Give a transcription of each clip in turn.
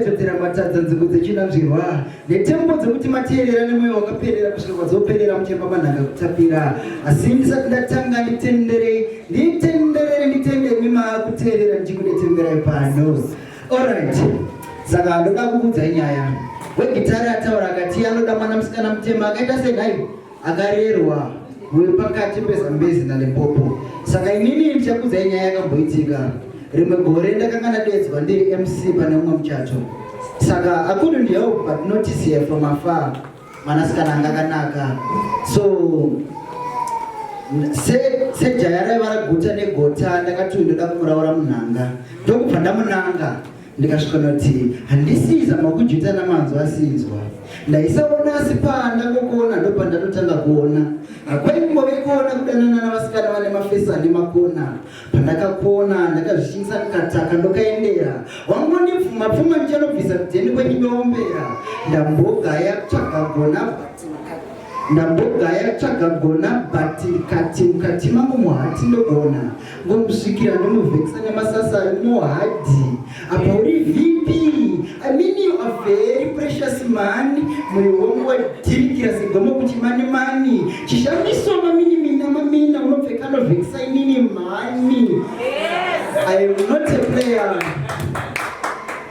Dzedzera matadza nzvimbo dzechinanzvirwa netembo dzekuti mateerera nemweya wakaperera kusvika kwadzoperera muchemba manhanga kutapira asi ndisati ndatanga nditenderei nditenderere nditende mima kuteerera ndichikudetemberai pano orit saka ndoda kukudzai nyaya wegitari ataura akati anoda mwana musikana mutema akaita senhai akarerwa muri pakati pezambezi nalimpopo saka inini ndichakudzai nyaya yakamboitika rimwe gore ndakanga ndadedzwa ndiri mc pane umwe muchato saka akudu ndihelp but notice here from afar mwanasikana anga akanaka so sejaya raiva raguta negota ndakati uyu ndoda kumuraura munhanga ndokubva ndamunanga ndikasvika ndati handisiza makujuta namanzwa asinzwa ndaisaona asi panda kokuona ndopandatotanga kuona hakwaimbove kuona kudanana navasikana vane mafesi ane makona pandakakuona ndakazvishinisa kukataka ndokaendera wangondipfuma pfuma ndichanobvisa kudheni kwenyimeombera ndambogaya kutsvaga gona ndambogaya kutsvaga gona but kati mukati mangu muhati ndogona Ngomusvikira ndonovhekisa nemasasa ari muhadhi apa uri vp i mean you are very precious man moyo wangu wadhirikira segomo kuti mani mani chishamiso mamini mina mamina unopfeka anovhekisa inini mhani i am not a player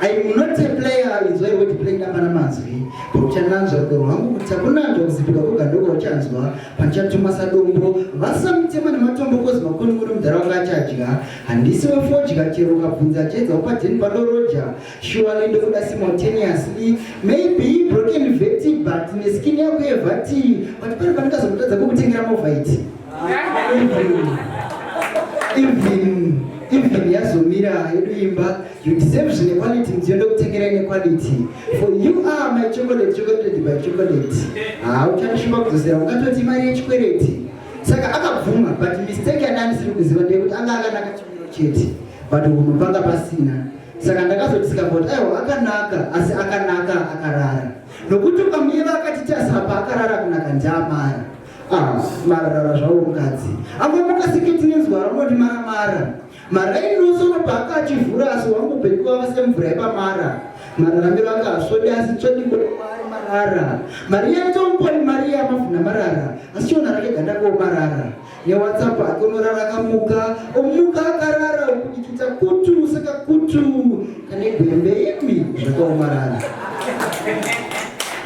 i am not a player inzwai woti play ndapana mazwi pakuchananzva rudo rwangu kuti akunanzva kuzipika kogandoko uchanzwa Pachatuma sadombo vasamutema nematombo kozi makoni kuri mudhara wanga achadya handisi wefodya chero ukabvunza achaedza upadheni padoroja shuwali ndokuda simultaneously maybe broken veti but neskin yako yevati but pari pandikazomutadza kokutengera movaiti even even yazomira yedu imba you deserve zvinequality mudziyo ndokutengera inequality for you are my chocolate chocolate by chocolate hauchandishuva kudzosera ungatoti mari yechikwereti saka akabvuma but mistake yandandisiri kuziva ndeyekuti anga akanaka chimiro chete but hunhu panga pasina saka ndakazodisika kuti aiwa akanaka asi akanaka akarara nokuti ukamuyeva akati tasapa akarara kunaka ndiamara ah, mararara zvawo mukadzi angomuka seketi nenzwara unoti maramara Maraini nosono paaka achivhura asi wangu bheki wava semvura yepamara. Mararamiro aka hasvodi asi tsvodi kuari marara. Mariya ntomuponi Mariya mavhuna marara asi chiona rake ganda ko marara. Newatsapu ake unorara akamuka omuka akarara okudikita kutu saka kutu kane gwembe imi zvakaomarara.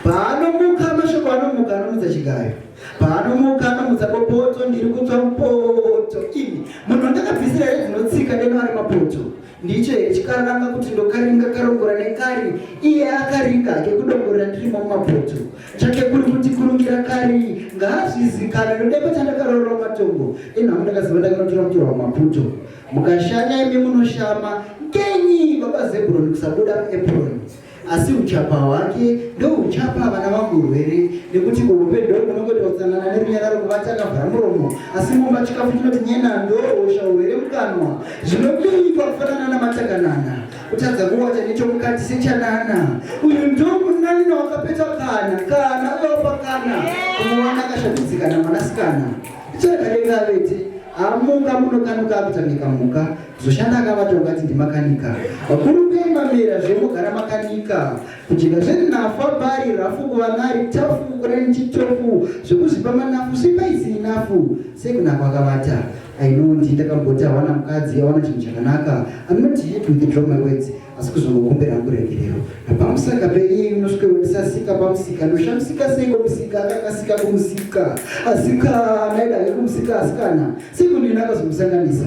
Paanomuka mashoko anomuka anomuka chigayo. Paanomuka anomutsa bopoto ndiri kutsva mupoto. Imi munhu ndakabvisira here dzinotsika deno ari mapoto. Ndicho here chikaranga kuti ndokaringa karongora nekari iye akaringa hake kudongorera ndirimo mumapoto. Chake kuri kuti kurungira kari ngaazvizikana ndodepa chandakarorera mumatongo. Inhamu ndakaziva ndakanotora mutora mumaputo. Mukashanya imi munoshama ngenyi baba Zebron kusabuda muepron. asi uchapa hwake ndouchapa vana vangu urwere nekuti kuhupedho kunongoita kutsanana nerunyararo kuvati akavhara muromo asi mumba chikafu chinoti nyena ndohosha urwere mukanwa zvinobinyikwa kufanana namatakanana kutadza kuwata nechomukati sechanana uyu ndomunanina wakapeta kana kana uyopa kana kumuwana akashabidzikana mwanasikana ichakadengavete amuka munokanuka akutamika muka Zoshanda akavata ungati ndimakanika. Vakuru kuimba mera zvemogara makanika. Kujika zviri nafa bari rafu kuva nari tafu kurani chitofu zvekuzipa manafu sipa isiri nafu sekunako akavata. I know ndi ndakamboti awana mukadzi awana chinhu chakanaka. I'm not here to withdraw my words asi kuzongokumbira kuregerero. Napamusaka peiye inosvike wendisasika pamusika ndoshamisika sei kumusika akakasika kumusika asikana ida yekumusika asikana sekundinakazomusanganisa